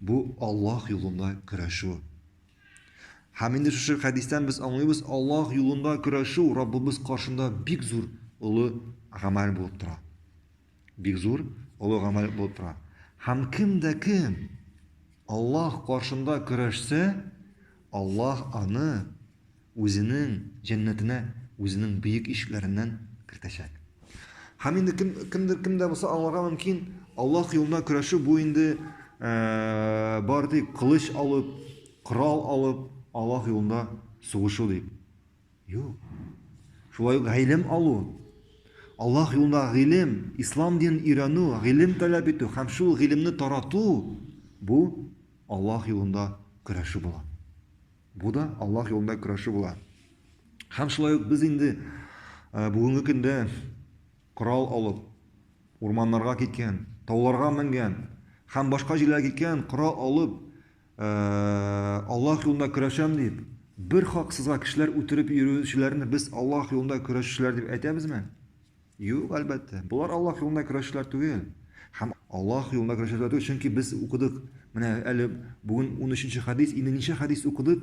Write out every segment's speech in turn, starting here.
Бу Аллаһ юлында көрәшү. Һәм инде шушы хәдистән без аңлыйбыз, Аллаһ юлында көрәшү Раббыбыз каршында бик зур олы гамәл булып тора. Бик зур олы гамәл булып тора. Һәм кем дә кем Аллаһ каршында көрәшсә, Аллаһ аны Үзенең җәннәтенә үзенең бөек ишекләреннән кертәчәк. Һәм инде кем, кемдер кем дә булса аңларга мөмкин, Аллаһ юлында көрәшү бу инде ә, бар тик кылыч алып, корал алып, Аллаһ юлында сугышу дип. Юк. Шулай ук гыйлем алу. Аллаһ юлында гыйлем, ислам динен өйрәнү, гыйлем таләп итү һәм шул гыйлемне тарату бу Аллаһ юлында көрәшү була. Бу да Аллаһ юлында көрәшү була. Һәм шулай ук без инде э, бүгенге көндә корал алып, урманнарга киткән, тауларга менгән һәм башка җирләргә киткән корал алып, э, Аллаһ юлында көрәшәм дип, бер хаксызга кешеләр үтереп йөрүчеләрне без Аллаһ юлында көрәшүчеләр дип әйтәбезме? Юк, әлбәттә. Болар Аллаһ юлында көрәшчеләр түгел. Һәм Аллаһ юлында көрәшәсе дә түгел, чөнки без укыдык. Менә әле бүген унөченче хәдис, инде ничә хәдис укыдык,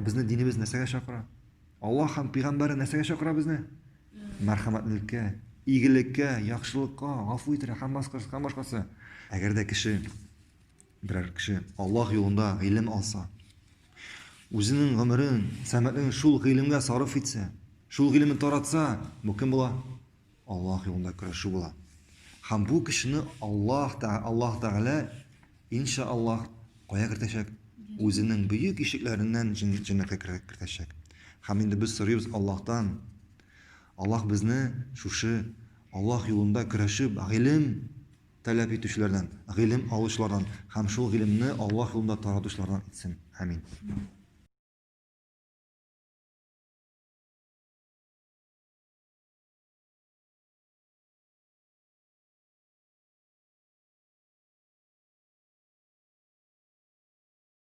безне динебез нәрсәгә чакыра? Аллаһ һәм пигамбәре нәрсәгә чакыра безне? Мәрхәмәтлелеккә, игелеккә, яхшылыкка, гафу итәргә һәм башкасы, һәм башкасы. Әгәр дә кеше Берәр кеше Аллаһ юлында гыйлем алса, үзенең гомерен, сәмәлен шул гыйлемгә сарыф итсә, шул гыйлемне таратса, бу кем була? Аллаһ юлында көрәшү була. Һәм бу кешене Аллаһ та Аллаһ Тәгалә иншааллаһ кая кертәчәк? Үзенең бөек ишекләреннән җәннәткә кертәчәк. Һәм инде без сорыйбыз Аллаһтан. Аллаһ безне шушы Аллаһ юлында көрәшеп, гыйлем таләп итүчеләрдән, гыйлем алучылардан һәм шул гыйлемне Аллаһ юлында таратучылардан итсен. Амин.